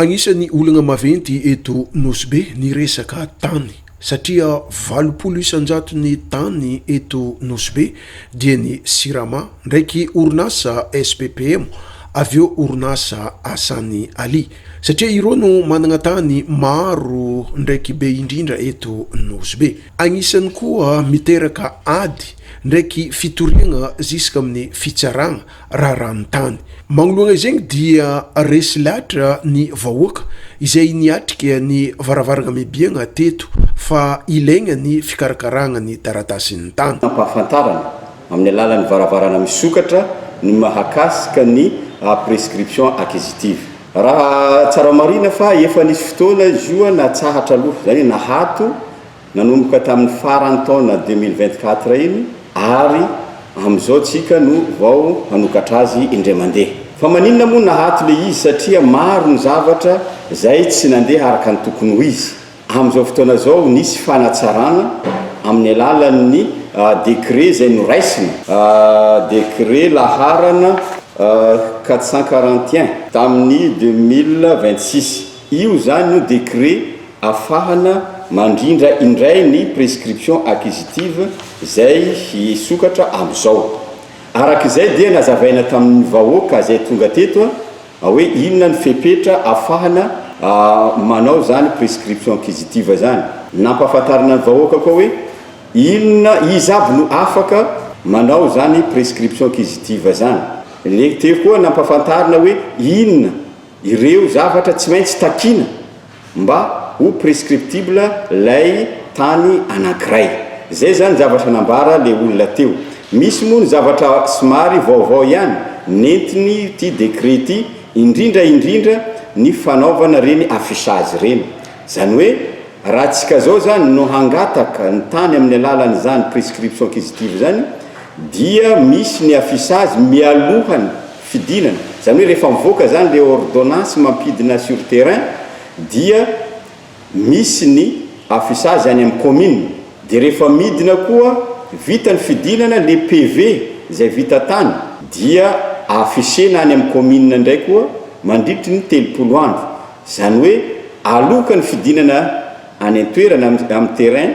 Agnisan'ny olagna maventy eto Nosy Be ny resaka tany satria valopolo isan-jaton'ny tany eto Nosy Be dia ny Sirama ndraiky orinasa SPPM avy eo orinasa Hassan Ali satria ireo no managna tany maro ndraiky be indrindra eto Nosy Be. Agnisan'ny koa miteraka ady ndraiky fitoriagna ziska amin'ny fitsaragna rarantany. Magnoloana izegny dia resy latra ny vahoaka izay niatrika ny varavarana mibiagna teto fa ilaigna ny fikarakaragna ny taratasin'ny tany. Ampahafantarana amin'ny alalan'ny varavarana misokatra ny mahakasika ny prescription acquisitive. Raha tsara marihina fa efa nisy fotoana izy io natsahatra aloha, izany hoe nahato nanomboka tamin'ny faran'ny taona deux mille vingt-quatre iny ary amin'izao tsika no vao hanokatra azy indray mandeha. Fa maninona moa nahato le izy satria maro ny zavatra zay tsy nandeha araka ny tokony ho izy. Amin'izao fotoana zao nisy fanatsarana amin'ny alalan'ny décret zay noraisina, décret laharana quatre cent quarante et un tamin'ny deux mille vingt-six. Io izany no décret afahana mandrindra indray ny prescription acquisitive izay hisokatra amin'izao. Araka izay dia nazavaina tamin'ny vahoaka izay tonga teto hoe inona ny fepetra afahana manao izany prescription acquisitive izany. Nampahafantarina ny vahoaka koa hoe inona, iza avy no afaka manao izany prescription acquisitive izany. Lehibe koa nampahafantarina hoe inona Ireo zavatra tsy maintsy takiana mba ho prescriptible lay tany anankiray. Zay zany zavatra nambara le olona teo. Misy moa ny zavatra somary vaovao ihany nentiny ty décret ity indrindra indrindra ny fanaovana reny affichage reny. Zany hoe raha tsika zao zany no hangataka ny tany amin'ny alalan izany prescription acquisitive zany dia misy ny affichage mialohan'ny. fidinana, izany hoe rehefa mivoaka izany ilay ordonnance mampidina sur terrain dia misy ny affichage any amin'ny commune, dia rehefa midina koa vita ny fidinana ilay PV izay vita tany dia affichena any amin'ny commune indray koa mandritry ny telopolo andro, izany hoe aloka ny fidinana any an-toerana amin'ny terrain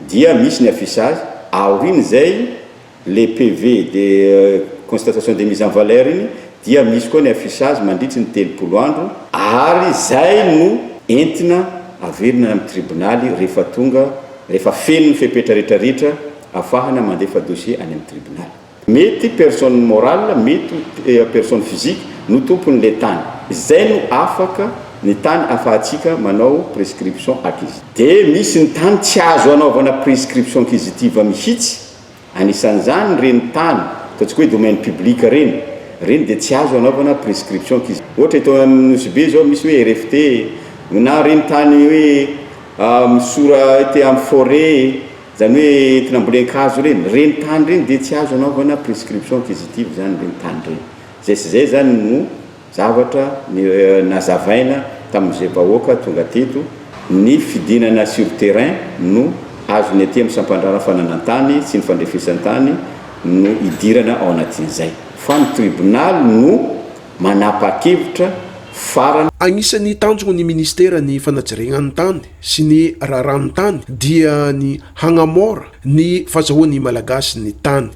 dia misy ny affichage, aorian'izay. Ilay PV de constatation de mise en valeur iny dia misy koa ny affichage mandritry ny telopolo andro, ary izay no entina averina any amin'ny tribonaly rehefa tonga rehefa feno ny fepetra rehetra ritra afahana mandefa dossier any amin'ny tribonaly. Mety personne morale mety ho personne physique no tompon'ilay tany, izay no afaka ny tany afahantsika manao prescription acquisitive. Dia misy ny tany tsy azo anaovana prescription acquisitive mihitsy. Anisan'izany ireny tany, ataontsika hoe domaine public ireny, ireny dia tsy azo anaovana prescription kis. Ohatra eto amin'ny Nosy Be izao misy hoe RFT e, na ireny tany hoe misora ety amin'ny forêt e, izany hoe entina ambolen-kazo ireny, ireny tany ireny dia tsy azo anaovana prescription acquisitive izany ireny tany ireny. Izay sy izay izany no Zavatra nazavaina tamin'izay vahoaka tonga teto, ny fidinana sur terrain no azony aty amin'ny sampandraharaha fananan-tany sy ny fandrefesan-tany no idirana ao anatin'izay. Fa ny tribonaly no manapa-kevitra farany. Agnisan'ny tanjon'ny ministeran'ny fanajiregnan'ny tany sy ny raharahany tany dia ny hagnamora ny fazahoan'ny Malagasy ny tany.